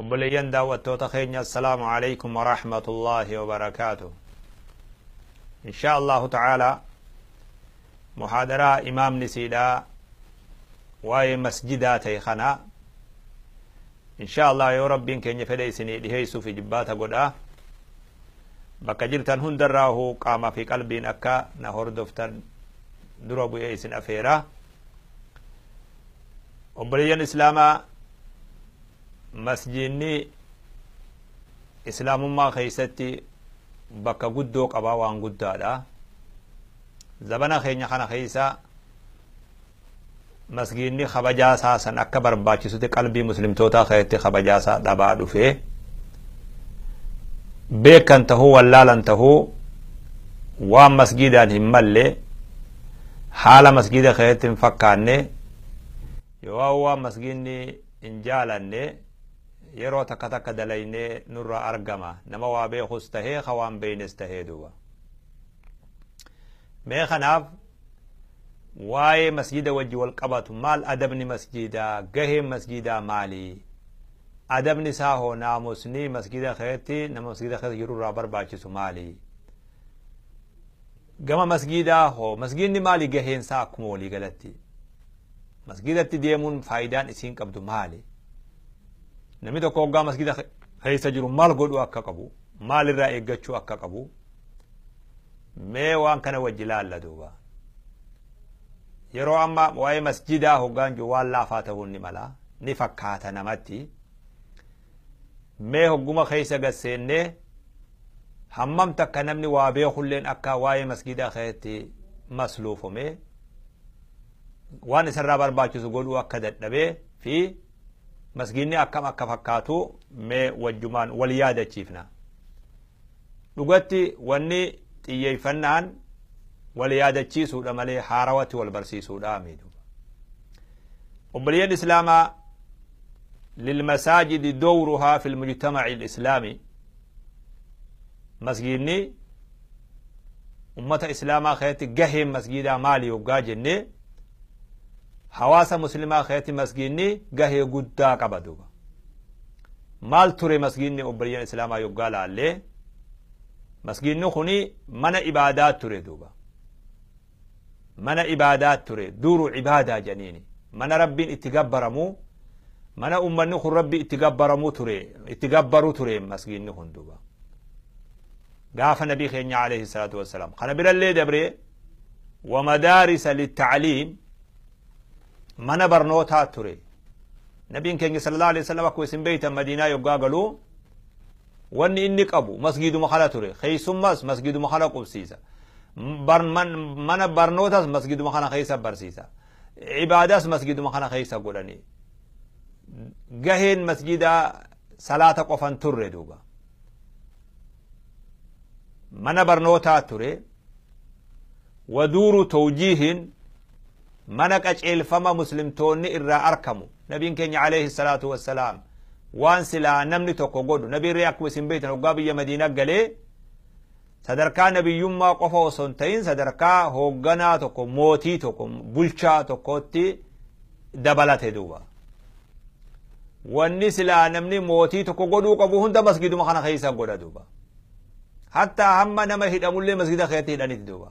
Obboleeyyan daawwattoota keenya assalaamu alaikum wa rahmatullaahi wa barakaatu. Inshaa Allahu ta'aalaa muhaadaraa imaamni siidhaa waa'ee masjidaa ta'e kana inshaa Allah yoo rabbiin keenya fedhe isinii dhiheessuuf ijibbaata godhaa. Bakka jirtan hundarraahu qaamaa fi qalbiin akka na hordoftan dura bu'ee isin afeeraa. Obboleeyyan Islaamaa Masjiidni Islaamummaa keessatti bakka guddoo qaba waan guddaadha. Zabana keenya kana keessa masgiidni kabajaa isaa san akka barbaachisutti qalbii muslimtootaa keessatti kabajaa isaa dhabaa dhufe. Beekan tahuu wallaalan tahuu waan masgiidaan hin malle haala masgiida keessatti hin fakkaanne Yoo'aa waan masgiidni hin jaalanne yeroo takka takka dalaynee nurraa argama nama waa beekus tahee ka waan beeynes tahee duuba mee kanaaf waa'ee masjida wajji wal qabatu maal adabni masjidaa gaheen masjidaa maalii adabni isaa hoo naamusni masjida keetti nama masjida keessa jiru irraa barbaachisu maalii gama masjidaa hoo masjidni maali gaheen isaa akkuma walii galatti Masgiidatti deemuun faayidaan isiin qabdu maali? Namni tokko hoggaa masgiida keessa jiru maal godhuu akka qabu? Maalirraa eeggachuu akka qabu? Mee waan kana wajji laalla duuba. Yeroo amma waa'ee masjiidaa hoggaan jiru waan laafaa ta'uun ni mala. Ni fakkaata namatti. Mee hogguma keessa gad seennee hammam takka namni waa beekulleen akka waa'ee masgiidaa keessatti masluufomee waan isarraa barbaachisu godhuu akka dadhabee fi masgiinni akkam akka fakkaatu mee wajjumaan wal yaadachiifna. Dhugatti wanni xiyyeeffannaan wal yaadachiisuudha malee haarawatti wal barsiisuudha miidhu. Obboleeyyan Islaamaa lilmasaajidi dowruhaa fil mujtamaci islaami masgiidni ummata islaamaa keessatti gaheen masgiidaa maali yoggaa jennee hawaasa muslimaa keessatti masgiidni gahee guddaa qaba duuba. Maal ture masgiidni obboleeyyan Islaamaa yoggaa laallee masgiidni kuni mana ibaadaa ture duuba. Mana ibaadaa ture duuru ibaadaa jedhaniini. Mana rabbiin itti gabbaramu mana ummanni kun rabbi itti gabbaramu ture itti gabbaru ture masgiidni kun duuba. Gaafa nabii keenya alayhi salaatu wassalaam. Kana birallee dabree wamadaarisa littacliim mana barnootaa ture nabiin keenya sallallahu alaihi wasallam akkuma isin beeytan madiinaa yoggaa galuu wanni inni qabu masgiiduma kana ture keessummas masgiiduma kana qubsiisa mana barnootas masgiiduma kana keessa barsiisa ibaadas masgiiduma kana keessa godhani gaheen masgiidaa salaata qofan turre duuba mana barnootaa ture waduuru tawjiihin mana qaceelfama muslimtoonni irraa arkamu nabiin keenya alayhi salaatu wassalaam waan silaa namni tokko godhu nabiin ree akkuma isin beektan hoggaa biyya madiina galee sadarkaa nabiyyummaa qofa osoo hin ta'in sadarkaa hoogganaa tokko mootii tokko bulchaa tokkotti dabalate duuba wanni silaa namni mootii tokko godhuu qabu hunda masgiduma kana keessa godha duuba hattaa hamma nama hidhamullee masgida keessatti hidhaniti duuba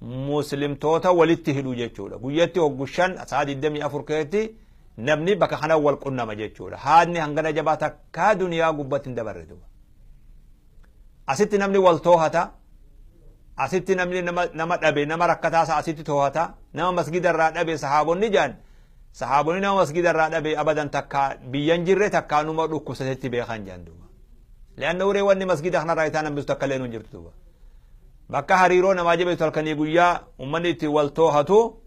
muslimtoota walitti hidhu jechuudha. Guyyatti hoggu shan sa'a 24 keessatti namni bakka kana wal qunnama jechuudha. Haadni hangana jabaa takkaa duniyaa gubbatti hin dabarre duuba. Asitti namni wal toohata. Asitti namni nama, nama dhabe nama rakkataa isaa asitti toohata. Nama masgida irraa dhabe sahaabonni jaan. Sahaabonni nama masgida irraa dhabe abadan takkaa biyyan jirre takkaa numa dhukkubsatetti beekan jaan duuba. Leanna uree wanni masgida kanarraa itaan hambisu takka illee hin jirtu duuba. Bakka hariiroo namaa jabeessu halkanii guyyaa ummanni itti wal toohatu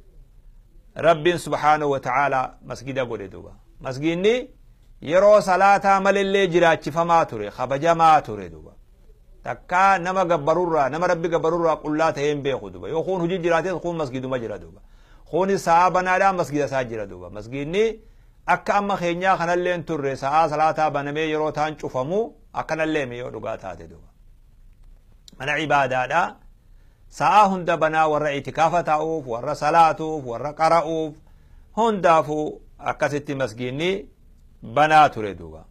Rabbiin subhaanahu wa ta'aalaa masgida godhe duuba. Masgiinni yeroo salaataa malillee jiraachifamaa ture, kabajamaa ture duuba. Takkaa nama gabbarurraa, nama Rabbi gabbarurraa qullaa ta'ee hin beeku duuba. Yoo kuun hojii jiraates kuun masgiduma jira duuba. Kuuni sa'aa banaadhaa masgida isaa jira duuba. Masgiinni akka amma keenyaa kanallee hin turre sa'aa salaataa banamee yeroo taan cufamu akkanallee mi yoo dhugaa taate duuba. mana ibaadaadha sa'aa hunda banaa warra itikaafa taa'uuf warra salaatuuf warra qara'uuf hundaafuu akkasitti masgiinni banaa ture duuba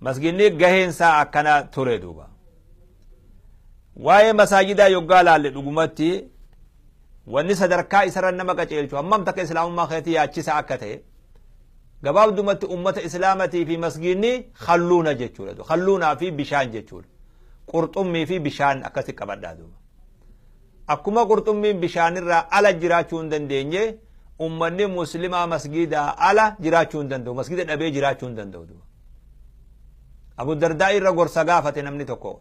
masgiinni gaheensaa akkana ture duuba waa'ee masaajidaa yoggaa laalle dhugumatti Wanni sadarkaa isarra nama qaceelchu hammam takka Islaamummaa keetii yaachisaa akka ta'e gabaabdumatti ummata Islaamatii fi masgiinni halluuna jechuudha. Halluunaa fi bishaan jechuudha. Qurxummii fi bishaan akkasi qabadhaa duuba. Akkuma qurxummiin bishaanirraa ala jiraachuu hin dandeenye ummanni muslimaa masgiidaa ala jiraachuu hin danda'u. Masgiida dhabee jiraachuu hin danda'u duuba. Abu Dardaa irra gorsa gaafate namni tokko.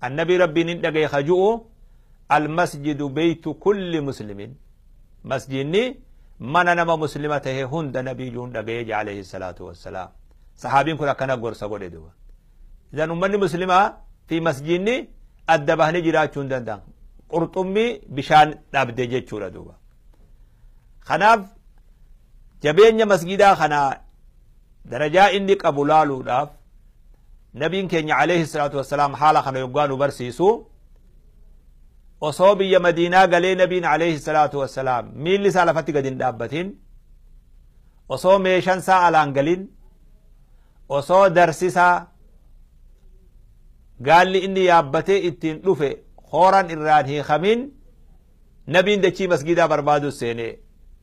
Annabii Rabbii nin dhagaye ka ju'u Almasjidu beytu kulli muslimin Masjiinni mana nama muslima tahe hunda nabii ju'un dhagaye je aleyhi salaatu wassalaam. Sahaabiin kun akkana gorsa godhe duba. Izan ummanni muslimaa fi masjiinni adda bahanii jiraachuu hin danda'an. Qurxummii bishaan dhabde jechuudha duuba. Kanaaf jabeenya masgiidaa kana Darajaa inni qabu laaluudhaaf Nabiin keenya Aleeyhi salaatu wassalaam haala kana yoggaa nu barsiisu osoo biyya Madiinaa galee Nabiin Aleeyhi salaatu wassalaam miilli isaa lafatti gad hin dhaabbatin osoo meeshan isaa alaan galin osoo darsisaa gaalli inni yaabbatee ittiin dhufe hooran irraan hiikamin Nabiin dachii masgiidaa barbaaduu seenee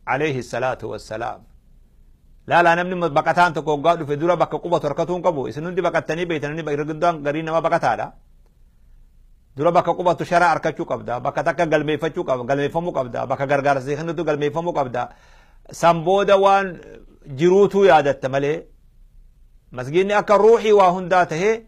Aleeyhi salaatu wassalaam. Laalaa namni baqataan tokko hoggaa dhufe dura bakka qubatu harkatuu hin qabu. Isin hundi baqattanii beektan inni irra guddaan garii nama baqataadha. Dura bakka qubatu sharaa harkachuu qabda. Bakka takka galmeeffachuu qabda. Galmeeffamuu qabda. Bakka gargaarsa si kennitu galmeeffamuu qabda. San booda waan jiruutuu yaadatta malee masgiinni akka ruuxii waa hundaa tahee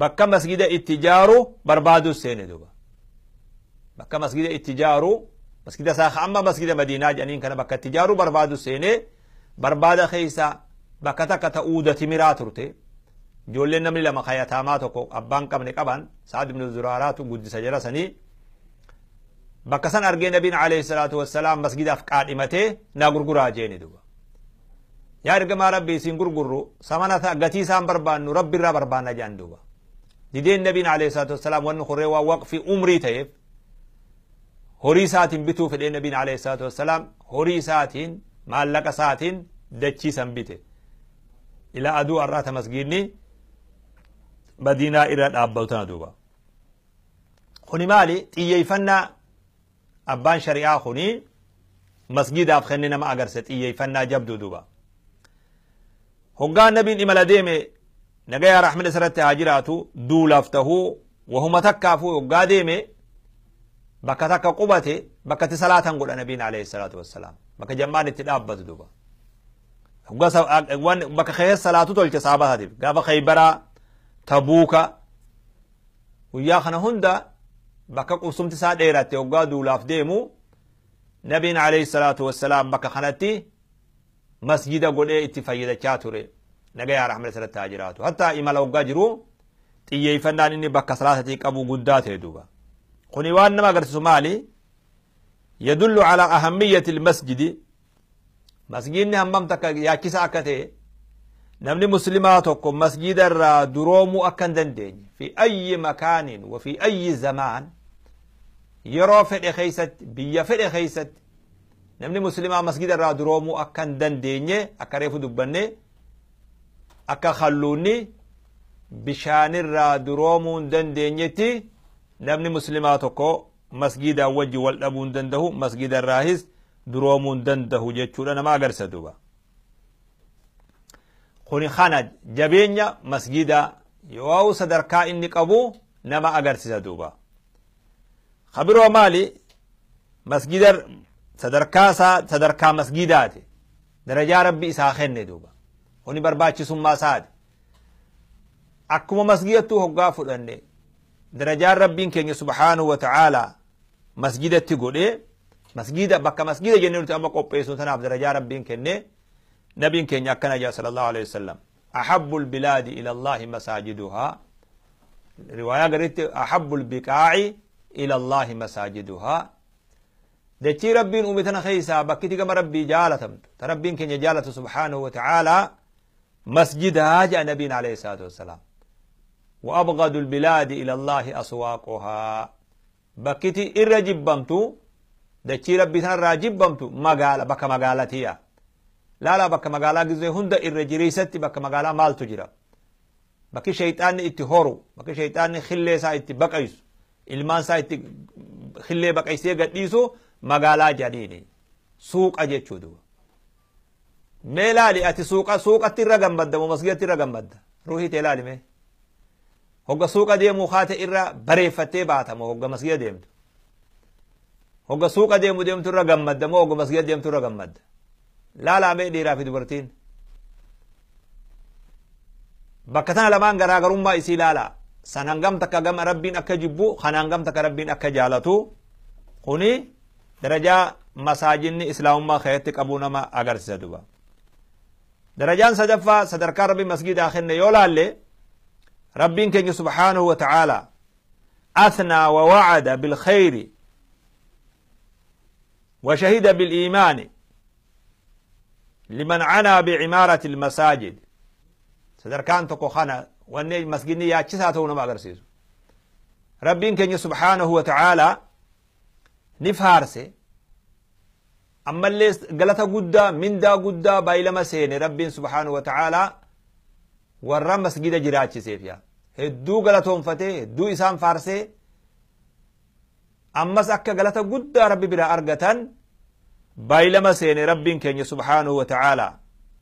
bakka masgida itti jaaru barbaaduu seene duba bakka masgida itti jaaru masgida isaa amma masgida madiinaa jedhaniin kana bakka itti jaaru barbaadu seene barbaada keessa bakka takka ta'uuda timiraa turte ijoolleen namni lama kayataamaa tokko abbaan qabne qaban sa'ad ibnu zuraaraatu guddisa jara sanii bakka san argee nabiin alayhi salaatu wassalaam masgidaaf qaadhimatee naa gurguraa jeeni duba Yaa ergamaa Rabbii siin gurgurru samana ta'a gatii isaan barbaannu Rabbi irraa barbaanna jedhan duuba. Dideen Nabiin alayhi salaatu wassalaam wanni kurree waan waqfii umrii ta'eef horii isaatiin bituu fedhee Nabiin alayhi salaatu wassalaam horii isaatiin maallaqa isaatiin dachii san bite. Ila aduu arraata masgiidni madiinaa irra dhaabbatu tana duuba. Kuni maali xiyyeeffannaa Abbaan shari'aa kun masgiidaaf kenne nama agarse xiyyeeffannaa jabduu duuba. Hoggaa nabiin imala deeme nagayaa rahmina isarratti haa jiraatu duulaaf tahuu wahuma takkaafuu hoggaa deeme bakka takka qubate bakka itti salaatan godha nabiin alayhi salaatu wassalaam bakka jammaan itti dhaabbatu duuba. Hoggaa sa- a- waan- bakka keessa salaatu tolche saabataatiif gaafa khaybaraa tabuuka Guyyaa kana hunda bakka qubsumti isaa dheeratte hoggaa duulaaf deemu nabiin alayhi salaatu wassalaam bakka kanatti masjida godhee itti fayyadachaa ture. Nagayaa rahmata sirratti haa jiraatu. Hatta imala hoggaa jiru xiyyeeffannaan inni bakka salaatatii qabu guddaa ta'e duuba. Kuni waan nama agarsiisu maali? Yadullu ala ahammiyyati masjidi Masgiidni hammam takka yaachisaa akka ta'e namni muslimaa tokko masgiida irraa duroomuu akka hin dandeenye fi ayyi makaaniin wa fi ayyi zamaan yeroo fedhe keessatti biyya fedhe keessatti namni muslimaa masgiida irraa duroomuu akka hin dandeenye akka reefu dubbanne akka kalluunni bishaanirraa duroomuu hin dandeenyetti namni muslimaa tokko masgiidaan wajji wal dhabuu hin dandahu masgiida irraahis duroomuu hin dandahu jechuudha nama agarsa duba kuni kana jabeenya masgiidaa yoo sadarkaa inni qabu nama agarsiisa duuba ka biroo maali masgiida sadarkaa isaa sadarkaa masgiidaati darajaa rabbi isaa kenne duuba kuni barbaachisummaa isaati Akkuma masgidattuu hoggaa fudhanne darajaan rabbiin keenya subhaanahu wa ta'aalaa masgidatti godhee masgida bakka masgida jennee nuti amma qopheessuun tanaaf darajaa rabbiin kennee nabiin keenya akkana jedha sallallahu alaihi wasallam ahabbul bilaadi ilallahi masaajiduhaa riwaayaa garitti ahabbul biqaa'i ilallahi masaajiduhaa dachii rabbiin uume tana keessaa bakkiti gama rabbii jaalatamtu ta rabbiin keenya jaalatu subhaanahu wa ta'aalaa masjidaa ja'a nabiin alayhi salaatu wassalaam wa abghadul bilaadi ila allahi aswaaquhaa bakkiti irra jibbamtu dachii rabbii sanarraa jibbamtu magaala bakka magaalatiya laalaa bakka magaalaa gizee hunda irra jireessatti bakka magaalaa maaltu jira bakki shayxaanni itti horu bakki shayxaanni khillee isaa itti baqaysu ilmaan isaa itti khillee baqaysee gadhiisu magaalaa janiini suuqa jechuu duba Mee laali ati suuqa suuqatti irra gammadda moo masgidatti irra gammadda? Ruuhii tee laali mee. Hogga suuqa deemuu kaate irra bareeffattee baata moo hogga masgida deemtu? Hogga suuqa deemu deemtu irra gammadda moo hogga masgida deemtu irra gammadda? Laalaa mee dhiiraa fi dubartiin. Bakka tana lamaan garaagarummaa isii laalaa. San hangam takka gama rabbiin akka jibbu kan hangam takka rabbiin akka jaalatu kuni darajaa masaajinni islaamummaa keessatti qabuu nama agarsisa duba darajaan sadaffaa sadarkaa rabbi masgidaa kenne yoo laalle rabbiin keenya subhaanahu wa ta'aala athnaa wa wa'ada bilkhayri wa shahida biliimaani liman canaa bicimaarati ilmasaajid sadarkaan tokko kana wanni masginni yaachisaa ta'uu nama agarsiisu rabbiin keenya subhaanahu wa ta'aala ni faarse ammallee galata guddaa mindaa guddaa baay'ilama seene rabbiin subhaanahu wa ta'aalaa warra masgida jiraachiseef yaa hedduu galatoonfatee hedduu isaan faarsee ammas akka galata guddaa rabbi biraa argatan baay'ilama seene rabbiin keenya subhaanahu wa ta'aalaa